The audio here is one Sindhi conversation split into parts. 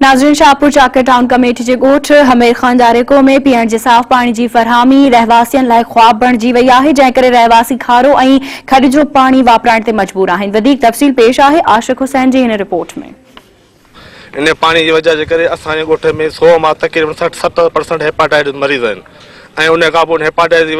ناظرين شاهپور چاڪر ٽائون ڪميٽي جي ڳوٺ حمير خان ڄاريڪو ۾ پيئڻ جي صاف پاڻي جي فراهمي رهواسين لاء خواب بڻجي وئي آهي جنهن ڪري رهواسي کارو ۽ کڏ جو پاڻي واپرائڻ تي مجبور آهن وڌيڪ تفصيل پيش آهي عاشق حسين جي هن رپورٽ ۾. انهيء پاڻي جي وجه جي ڪري اسان جي ڳوٺ ۾ سو مان تقريبن سٺ ستر پرسنٽ هيپاٽائيٽس مريض آهن ۽ انهيء کان پوء ان هيپاٽائيٽس جي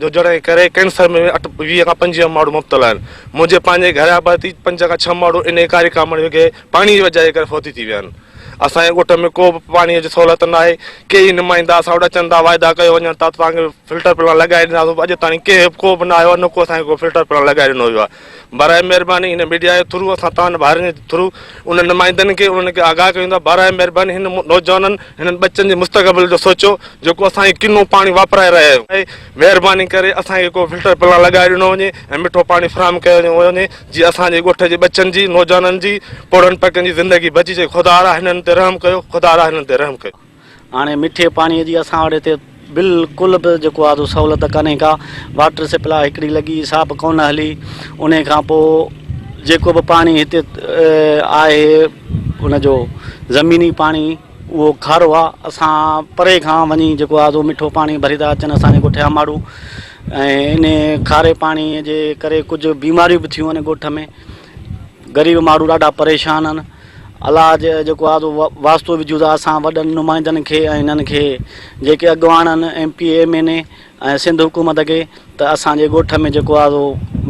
هجڻ جي ڪري ڪينسر ۾ اٺ ويهه کان پنجويهه ماڻهو مبتلا آهن منهنجي پنهنجي گهر جا ڀرتي پنج کان ڇهه ماڻهو انهيء ڪاري ڪامڻ جي ڪري پاڻي جي وجهه جي ڪري فوتي ٿي ويا آهن. اسان جي ڳوٺ ۾ ڪو به پاڻي جي سهولت ناهي. ڪي ئي نمائندا اسان وٽ اچن ٿا واعدا ڪيو وڃن ٿا ته توهان کي فلٽر پلان لڳائي ڏينداسون پر اڄ تائين ڪنهن به ڪو به نه آيو آهي نه ڪو اسان کي ڪو فلٽر پلان لڳائي ڏنو ويو آهي. برائي مهرباني هن ميڊيا جي ٿرو اسان توهان ڀائرن جي ٿرو انهن نمائندن کي انهن کي آگاهه ڪيون ٿا برائي مهرباني هن نوجوانن هنن ٻچن جي مستقبل جو سوچو جيڪو اسان کي ڪنو پاڻي واپرائي رهيا آهيون. مهرباني ڪري اسان کي ڪو فلٽر پلان لڳائي ڏنو وڃي ۽ مٺو پاڻي فراهم ڪيو وڃي. جي اسان جي ڳوٺ جي ٻچن جي نوجوانن جي پوڙهن پڪن جي زندگي بچي جي خدارا هنن تي رحم ڪيو خدارا هنن تي رحم ڪيو. هاڻي مٺي پاڻي جي اسان وٽ هتي بلڪل به جيڪو آهي سو سهولت ڪانهي ڪا واٽر سپلاء هڪڙي لڳي سا به ڪونه هلي انهي کان پوء جيڪو به پاڻي هتي آهي ان جو زميني پاڻي اهو کارو آهي اسان پري کان وڃي جيڪو آهي سو مٺو پاڻي ڀري ٿا اچن اسان جي ڳوٺ جا ماڻهو ۽ انهي کاري پاڻي جي ڪري ڪجهه بيماريون به ٿيون آهن ڳوٺ ۾ غريب ماڻهو ڏاڍا پريشان آهن علاج جيڪو آهي سو واسطو وجهون ٿا اسان وڏن نمائندن کي ۽ هنن کي جيڪي اڳواڻ آهن M P M N A ۽ Sindh حڪومت کي ته اسان جي ڳوٺ ۾ جيڪو آهي سو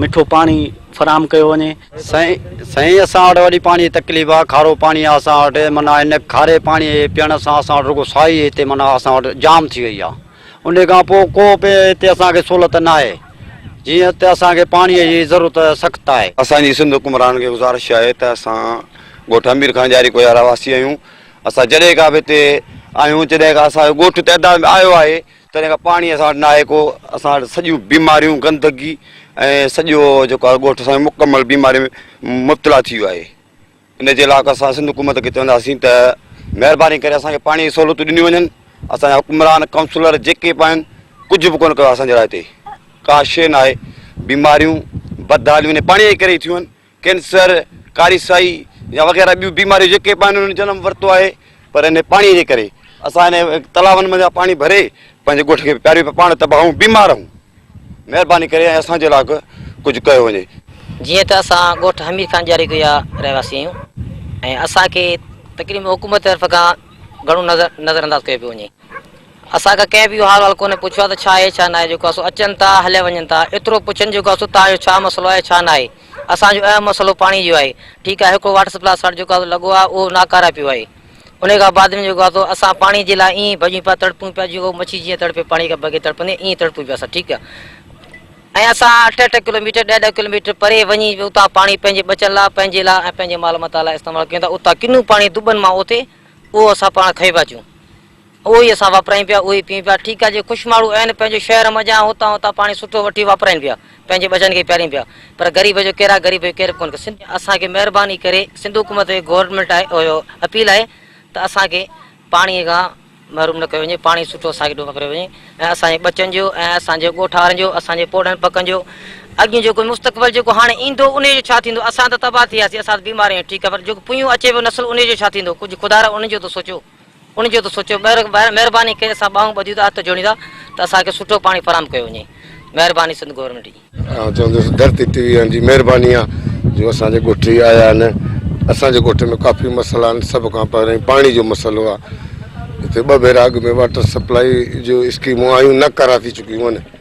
مٺو پاڻي فراهم ڪيو وڃي سائين سائين اسان وٽ وڏي پاڻي جي تڪليف آهي کارو پاڻي آهي اسان وٽ معنيٰ ان کاري پاڻي پيئڻ سان اسان وٽ رڳو سائي هتي معنيٰ اسان وٽ جام ٿي وئي آهي انهي کان پوء ڪو به هتي اسان کي سهولت ناهي، جيئن هتي اسان کي پاڻيء جي ضرورت سخت آهي. اسان جي سنڌ حڪمرانن کي گذارش آهي ته اسان ڳوٺ امير خان جاري ڪوهي جا رهواسي آهيون، اسان جڏهن کان به هتي آهيون، جڏهن کان اسان جو ڳوٺ تعداد ۾ آيو آهي، تڏهن کان پاڻي اسان وٽ ناهي ڪو، اسان وٽ سڄيون بيماريون، گندگي ۽ سڄو جيڪو آهي ڳوٺ اسان جو مڪمل بيمارين ۾ مبتلا ٿي ويو آهي. ان جي علاوه اسان سنڌ حڪومت کي چونداسين ته مهرباني ڪري اسان کي پاڻي جي سهولتون ڏنيون وڃن اسان جا حڪمران ڪائونسلر جيڪي به آهن ڪجهه به ڪونه ڪيو اسان جي لاء هتي ڪا شي نه آهي بيماريون بدحاليون هن پاڻي جي ڪري ٿيون آهن ڪينسر ڪاري سائي يا وغيره ٻيون بيماريون جيڪي به آهن انهن جنم ورتو آهي پر انهي پاڻي جي ڪري اسان انهي تلاون مان جا پاڻي ڀري پنهنجي ڳوٺ کي پياريون پيا پاڻ تباهه ۽ بيمار رهون مهرباني ڪري ۽ اسان جي لاء ڪجهه ڪيو وڃي. جيئن ته اسان ڳوٺ حمير خان ڄاريڪو جا رهواسي آهيون ۽ اسان کي تقريبن حڪومت طرف کان گهڻو نظر نظرانداز ڪيو پيو وڃي اسان کان ڪنهن به اهو حال وال ڪونهي پڇيو آهي ته ڇا اهي ڇا ناهي جيڪو اسو اچن ٿا هليا وڃن ٿا ايترو پڇن جيڪو اسو توهان جو ڇا مسئلو آهي ڇا ناهي اسان جو اهم مسئلو پاڻي جو آهي ٺيڪ آهي هڪڙو واٽر سپلاء سٽ جيڪو اسو لڳو آهي اهو ناڪاره پيو آهي انهي کان بعد ۾ جيڪو اسو اسان پاڻي جي لاء ائين ئي ڀڄون پيا تڙپون پيا جيئن مڇي جيئن تڙپي پاڻي کان بغير تڙپندي ائين ئي تڙپون پيا اسان ٺيڪ آهي ۽ اسان اٺ اٺ ڪلوميٽر ڏهه ڏهه ڪلوميٽر پري وڃي اتان پاڻي پنهنجي ٻچن لاء پنهنجي لاء ۽ پنهنجي مال متا لاء استعمال ڪيون ٿا اتان ڪنو پاڻي دٻن مان اٿي اهو اسان پاڻ کيو پيا اچون اهو ئي اسان واپرائين پيا، اهو ئي پيئون پيا. ٺيڪ آهي، جي خوش ماڻهو آهن، پنهنجي شهر منجهان ۽ هتان هتان پاڻي سٺو وٺي واپرائين پيا، پنهنجي ٻچن کي پيارين پيا، پر غريب جو ڪير آهي، غريب جو ڪير ڪونه. سنڌ. اسان کي مهرباني ڪري سنڌ حڪومت کي گورنمينٽ آهي اهو اپيل آهي ته اسان کي پاڻي کان محروم نه ڪيو وڃي، پاڻي سٺو اسان کي ڏنو ڪريو وڃي ۽ اسان جي ٻچن جو ۽ اسان جي ڳوٺ وارن جو، اسان جي پوڙهن پڪن جو اڳيون جيڪو مستقبل جيڪو هاڻي ايندو انهي جو ڇا ٿيندو، اسان ته تباهه ٿي وياسين، اسان ته بيمار آهيون ٺيڪ آهي، پر جيڪو پويون اچي پيو نسل انهي جو ڇا ٿيندو، ڪجهه خدارا انهن جو ته سوچو. ان جو ته سوچيو. مهرباني ڪري اسان ٻانهون ٻڌيون ته هٿ جوڙيون ٿا ته اسان کي سٺو پاڻي فراهم ڪيو وڃي. مهرباني سنڌ گورنمينٽ جي. آئون چوندس ڌرتي ٽي وي وارن جي مهرباني آ جو اسان جي ڳوٺ هي آيا آهن اسان جي ڳوٺ ۾ ڪافي مسئلا آهن سڀ کان پهرين پاڻي جو مسئلو آ هتي ٻه ڀيرا اڳ ۾ واٽر سپلائي جو اسڪيمون آيون نه ڪرا ٿي چڪيون آهن.